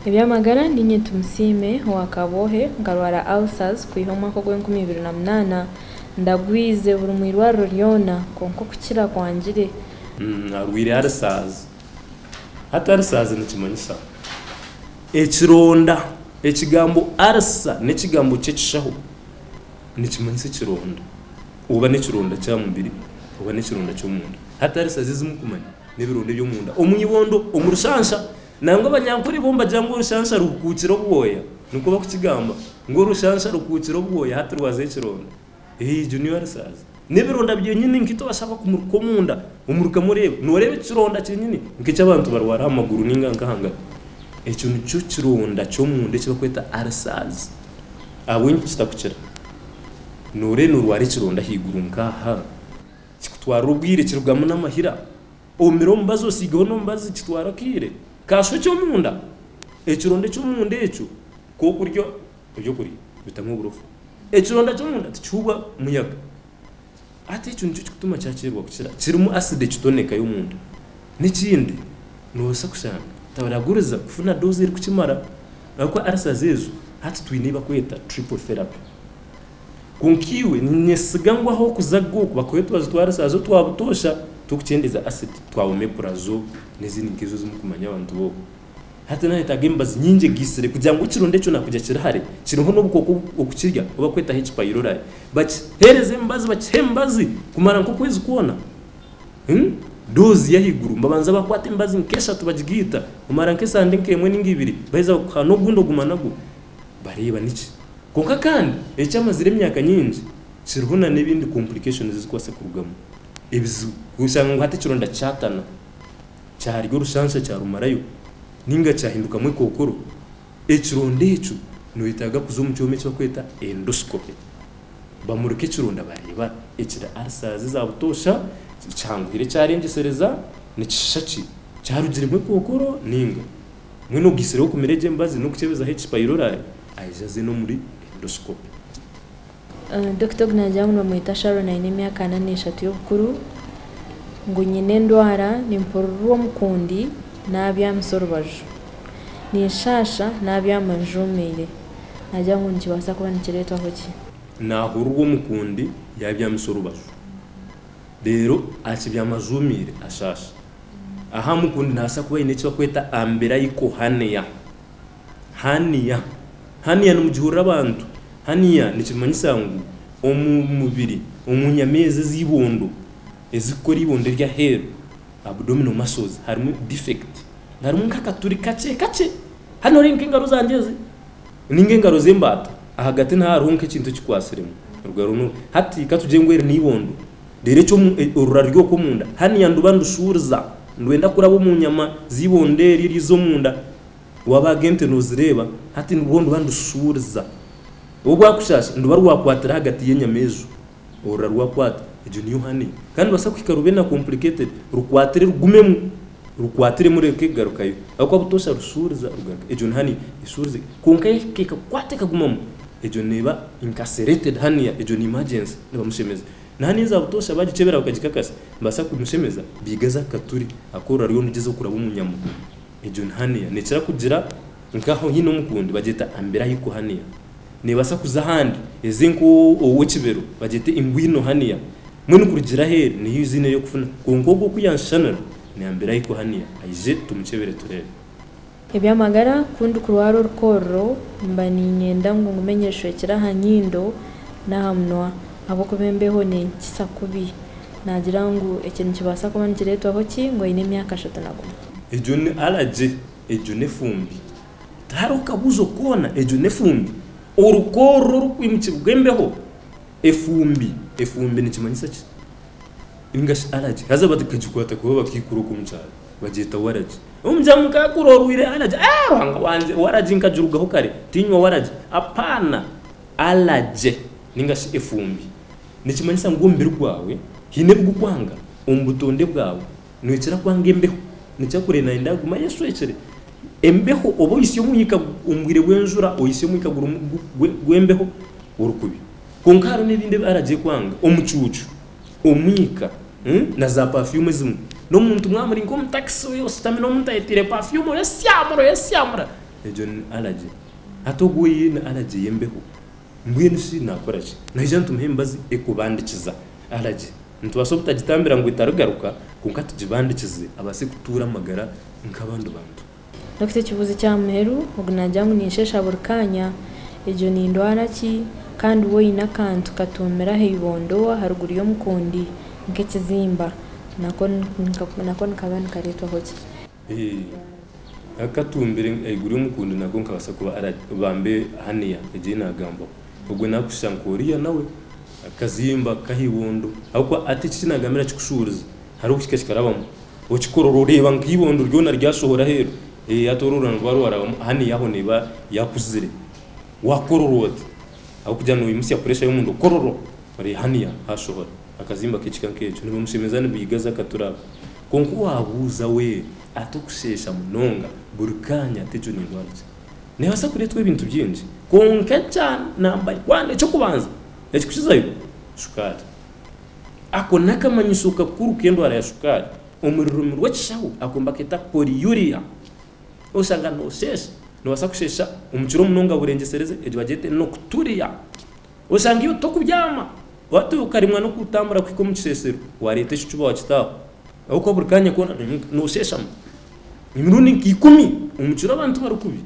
Eby'amagara Niinye Tumusiime owa Kabwohe nkarwara ulcers kwiha omwaka ogw'enkumi ibiri na munaana ndagwize buri mu irwariro ryona kwonka okukira kwangire. Arwaire ulcers. Hati ulcers nikimanyisa? Ekironda, Ekigambo arsa n'ekigambo ky'ekishaho nikimanyisa ekironda oba n'ekironda ky'aha mubiri oba n'ekironda ky'omunda. Hati arsa z'ezimu kumanya n'ebironda eby'omunda omu ibondo, omu rushansha. Nangwa abanyankore bo nibagira ngu orushansha ruhukuukire obwoya. Nikwo barikukigamba ngu orushansha ruhukuukire obwoya hati rwaza ekironda. Eeh Junior Alisaaza n'ebironda byenyini nk'ebi tubashaba kumuruka omunda omurukamu oreebe. Nooreeba eki kironda kyenyini nk'eki abantu barwara aha maguru nainga nk'aha ngaro. Ekyo nikyo kironda ky'omunda eki barikweta Alisaaza. Ahabw'enki kitakukira? Nooreeba noorwara ekironda ahaiguru nk'aha, kikutwarira obwire kirugamu n'amahira. Omire omubazi osiigeho n'omubazi kitwara akaire. Kaashuha eky'omunda, ekironda eky'omunda ekyo kw'okurya Eby'okuri bitamu oburofa. Ekironda ky'omunda tikihuubwa muyaga. Hati ekyo nikyo kirikutuma kyakyererwa kukira. Kirimu asidi ekitoneka y'omunda. N'ekindi, noobaasa kushanga tibaraguriza kufuna doozi erikukimara ahabw'okuba arisazi ezo hati twine ei barikweta triple therapy. Kwonka iwe niinyesiga ngu ahu orikuza go bakuhe otubazi twa arisazi otwa butoosha tw'okukyendeeza asidi twa omeprazole n'ezindi nk'ezo ezi murikumanya abantu boona. Hati naayetaaga emibazi nyingi egaisire kugira ngu ekirundu ekyo naakugira kiri hare kiriho n'obukooko okukirya obu barikwetaho ekipayirorari. Bakiheereza emibazi, bakiha emibazi kumara nk'okwezi kwona. Hmm? Doozi y'ahaiguru. Babanza baakwata emibazi nk'eshatu bagigaita. Omara nk'esaaha ndi nk'emwe nainga ibiri, baheza bakuha n'ogundi oguma nagwo. Bareeba niki. Kwonka kandi ekyamazire emyaka nyingi kiriho na n'ebindi complications ezikubaasa kurugamu, ebizibu. Oshanga ngu hati ekironda kyatana. kyarya orushansha kyarumarayo nainga kyahindukamu ekookoro, ekironda ekyo noyetaaga kuza omu kyoma ekibakweta endoscopy bamurike ekironda bareeba ekiri ulcers za butoosha kihanguhire kyarengyesereza nikishisha ki kyarugiremu ekookoro nainga mbwenu ogaitsire kumira egyo emibazi nokukyebezaho eki pylori ayije aze n'omuri endoscopy. Dokita ogu naagira ngu nibamweta Sharon aine emyaka ana n'eshatu y'obukuru, ngu nyine endwara nimpurirwa omukundi naabyamisa orubaju, ninshaasha naabyama njuumiire, naagira ngu nikibaasa kuba nikireetwaho ki? Naahurirwa omukundi yaabyamisa orubaju reero akibyama ajuumiire ashaasha. Aha mukundi naabaasa kuba aine eki barikweta umbilical hernia. Hania. Hania nimugihurira abantu. Hania nikimanyisa ngu omu mubiri, omu nyama ezi ez'eibondo ezirikukora eibondo ery'aheeru, abdominal muscles, harimu defect. Harimu nk'akaturi kakye kakye. Hanu nooreeba nk'engaro zangye ezi, nainga engaro z'embaata, ahagati niho hariho nk'ekintu ekikwatsiremu. Hati ka tugire ngu eri n'eibondo, reero eki orura ruri okwo omunda, hania nduba ndushuuriza, ndwenda kuraba omu nyama z'eibondo eryo eriza omunda, Waabaga ente noozireeba, hati nibwo ndiba ndishuuriza. Obu bwakushaasha, ndiba rwakwatira ahagati y'enyama ezo. Orora rwakwata, egyo niyo honey. Kandi nibaasa kuhika rube na complicated, rukwatire rugumemu, rukwatire mureke garukayo. Ahabw'okuba butoosha rushuuriza, rugaruka. Egyo ni honey eshuurize. Kwonka yaahika ekakwata ekagumamu, egyo neeba incarcerated honey, egyo ni emergency, nibamushemeza. Na honey eza butoosha baagikyebera bakagikakasa, nibabaasa kumushemeza, beigaza akaturi, akoorora ariyo nigyezaho kuraba omu nyama. Egyo ni hernia. Nekira kugira nkaho haine omukundi bagyeta umbilical hernia. Nebasa kuza ahandi eze nkowekibero bagyete inguinal hernia. Mbwenu kurugira aheru niyo iziine eyokufuna kwonka ogwo ku yashushanira ni umbilical hernia. Aije tumukyebere tureebe. Ebyamagara, Ku ndikurwara orukoorro mba niinyenda ngu ngume nyeshwekire aha nyindo n'aha munwa ahabw'okuba embeho nenkitsa kubi. Naagira ngu ekyo nikibaasa kuba nikireetwaho ki? Ngu aine emyaka ashatu na gumwe. Egyo ni alagi, egyo n'efumbi. Tihariho kabuuzo koona, egyo n'efumbi. Oruko oruro orurikwiimukibwa embeho, efumbi. Efumbi nikimanyisa ki? Nainga shi alagi. Haza bakagikwata kubi bakaikura okwo omu kyaro, bagyeta waragi. Omugyera mukaakura orwaire alagi. Eeh Ruhanga wangye, waragi nkagirugaho kare, tiinywa waragi. Apaana! Alagi nainga shi efumbi nikimanyisa ngu omubiri gwawe haine ebigukwanga, omu butonde bwawe Noikira kwanga embeho? Nikikira kureeba naanye ndaguma ayeshwekire. Embeho oba ohisya omwika omu bwire bw'enjura, ohisya omwika gurimu gw'embeho ori kubi. Kwonka hariho n'ebindi ebi aragye kwanga. Omucuucu, omwika, na zaapafyumu ezimwe. N'omuntu mwaba muri nk'omu takisi oyo oshutami n'omuntu ayetaire pafyumu oyesyamura oyesyamura, egyo ni aragye. Hati ogwo oine aragye y'embeho. Mbwenu shi naakora ki? Naija nitumuha emibazi ekubandikiza alagi? Nitubaasa obutagitambira ngu etarigaruka, kwonka tugibandikize abaase kutuura amagara nk'abandi bantu? Dokita ekibuuzo ekya muheru, Ogu naagira ngu ninshesha buri kaanya, egyo ni ndwara ki? Kandi wa oine akantu katuumire aha ibondo aharuguru y'omukundi nk'ekizimba, nako nikaba nikareetwaho ki? Akatumbire ahaiguru y'omukundi nako nikabaasa kuba bambe haniya egi ei naagambwaho. Ogwe nakushusha nka Oriya nawe, akazimba kubi aha ibondo. Ahabw'okuba hati eki eki naagambire nikikushuuriza, hariho obuhika kikarabamu, okikora orooreeba nka ibondo ryona ryashohora aheeru. Hati ori orurano rwaba rwarabamu, haniya aho neeba yaakuzire. Waakorora ota? Ahabw'okugira ngu noimutsya pureesha y'omunda, kororo! Ori haniya haashohora akazimba k'ekika nk'ekyo. Nibimushemeza, nibiigaza akatura ako. Kwonka owaabuuza we ata okusheesha munonga buri kaanya tegyo n'endwara ki? Neebaasa kureetwa ebintu bingi, kwonka ekya namba wani, eky'okubanza ekikukizayo, shukaari. Ako n'akamanyiso kakuru k'endwara ya shukaari. Omu rurimi rw'ekishaho ako nibaketa polyuria. Oshanga noosheesha, noobaasa kusheesha omu kiro munonga burengyesereze, egyo bagyeta enocturia. Oshangiyo tokubyama, watuuya okarimwa n'okutambura kuhika omu kiseesero, waareeta ekicuba wakita aho. Ahabw'okuba buri kaanya koona noosheeshama. Emirundi nka ikumi omu kiro abantu bari kubi.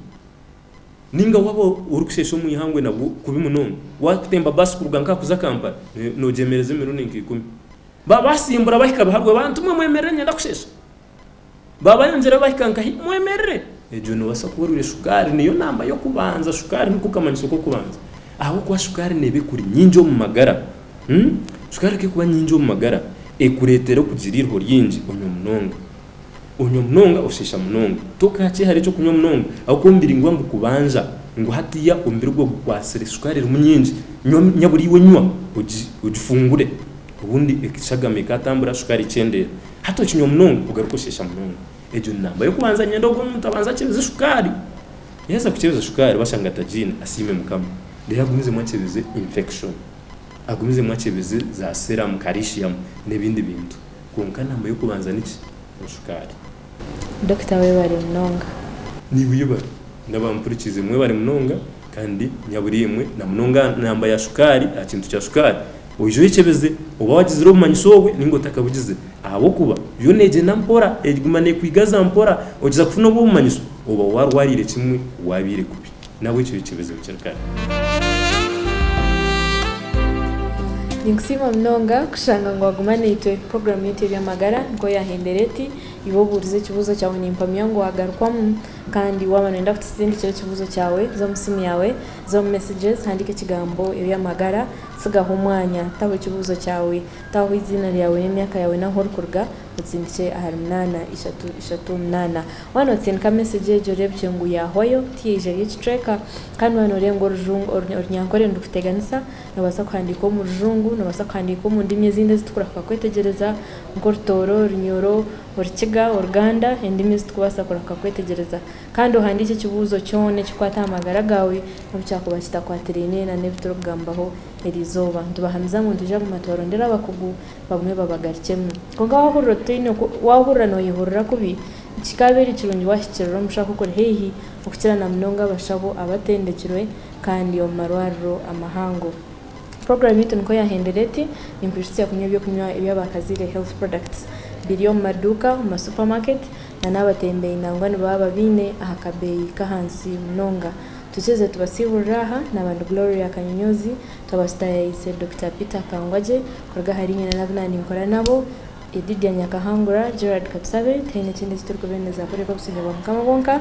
Nainga waaba orikusheesha omu ihangwe nabwo kubi munonga. Waakutemba baasi kuruga nk'aha kuza Kampala, noogyemereza emirundi nka ikumi. Baaba baasimbura bahika biharwe, bantu mwe mwemerere niinyenda kusheesha. Baaba ayongyeraho bahika nka hi? Mwemerere! Egyo nebaasa kuba erwe shukaari niyo namba y'okubanza. Shukaari niko kamanyiso k'okubanza. Ahabw'okuba shukaari neeba ekuri nyingi omu magara. Shukaari ku erikuba nyingi omu magara, ekureetera okugira eiriho ryingi, onywa munonga. Onywa munonga, oshiisha munonga. Tokaakyehare eky'okunywa munonga ahabw'okuba omubiri niguba nigukubanza ngu hatiiya omubiri gwawe gukwatsire shukaari erimu nyingi, nyaburiiwe nywa, ogifungure. Obundi eshagama ekaatambura, shukaari ekyendeera. Hati okinywa munonga ogaruka oshesha munonga. Egyo ni namba y'okubanza niinyenda ogwo muntu abanze akyebeze shukaari. Yaaheza kukyebeza shukaari bashanga tagiine, asiime Mukama. Reero agumizemu akyebeze infection. Agumizemu akyebeze za serum, calcium n'ebindi bintu. Kwonka namba y'okubanza ni ki? Ni shukaari. Dokita webare munonga. Naiwe yebare. N'abampurikiize mwebare munonga kandi nyaburiimwe namunonga aha namba ya shukaari, aha kintu kya shukaari Oije oyekyebeze oba wagizire obumanyisa obwe ninga otakabugize ahabw'okuba yo negyenda mpora eguma nekwigaza mpora ogiza kufuna obwo obumanyiso oba warwarire kimwe wabiire kubi nabwekyo yekyebeze bukiri kare. Ninkusiima munonga kushanga ngu waguma naitwe. Puroguramu yaitu ey'eby'amagara nikwo yahendera eti, iwe obuurize ekibuuzo kyawe oine empamya ngu wagarukwamu. Kandi waaba noyenda kutusindikira ekibuuzo kyawe, za omu simu yaawe, za omu messages, handiika ekigambo eby'amagara, Tsigaho omwanya, taho ekibuuzo kyawe, taho eiziina ryawe n'emyaka yaawe n'ahu orikuruga, otsindikye ahari munaana ishatu ishatu munaana. Waaba nootsindika mesegi egyo oreebukye ngu yaahwayo, tiyaija eri ekicweka. Kandi waaba noorenga orujungu, oru, orunyankore nirukutegyesa, noobaasa kuhandiika omu rujungu, noobaasa kuhandiika omu ndimi ezindi ezi turikubaasa kwetegyereza, nk'orutooro, orunyoro, orukiga, oruganda, endimi ezi turikubaasa kurahika kwetegyereza. Kandi ohandiike ekibuuzo kyona ekikwata aha magara gaawe obu kyakuba kitakwatiraine na n'ebi turikugambaho eri izooba. Nitubahamiza ngu nitwija kuguma tubarondera abakugu bagume babagarukyemu. Kwonka waahurira nooyehurira kubi, tikikaabaire kirungi waahikirira omushaho okuri haihi, okukira na munonga abashaho abatendekirwe kandi omu marwariro amahango. Puroguramu yaitu nikwo yaahendera eti, Ninkwijutsya kunywa eby'okunywa ebi abaakazaire, health products, biri omu maduuka, omu ma supermarket, na n'abatembeyi nangwa nibaba babiine aha kabeeyi k'ahansi munonga. Tukirize tubasiiburire aha, n'abandi Gloria Kanyonyoozi twaba tutayaayise, Dokita Peter Kangwagye kuruga ahari nyina n'abu naaninkora nabo, Edidia Nyakahangura, Gerald Katusabe, tihaine kindi eki turikubeemeza kureka obusinge bwa Mukama bwonka.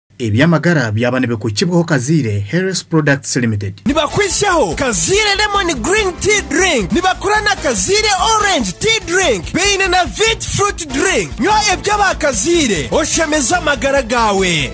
Eby'amagara byaba nibikugibwaho Kaziire Health Products Limited. Nibakuhisyaho Kaziire Lemon Green Tea Drink, nibakora na Kaziire Orange Tea Drink, baine na Vit Fruit Drink. Nywa ebya ba Kaziire oshemeze amagara gaawe.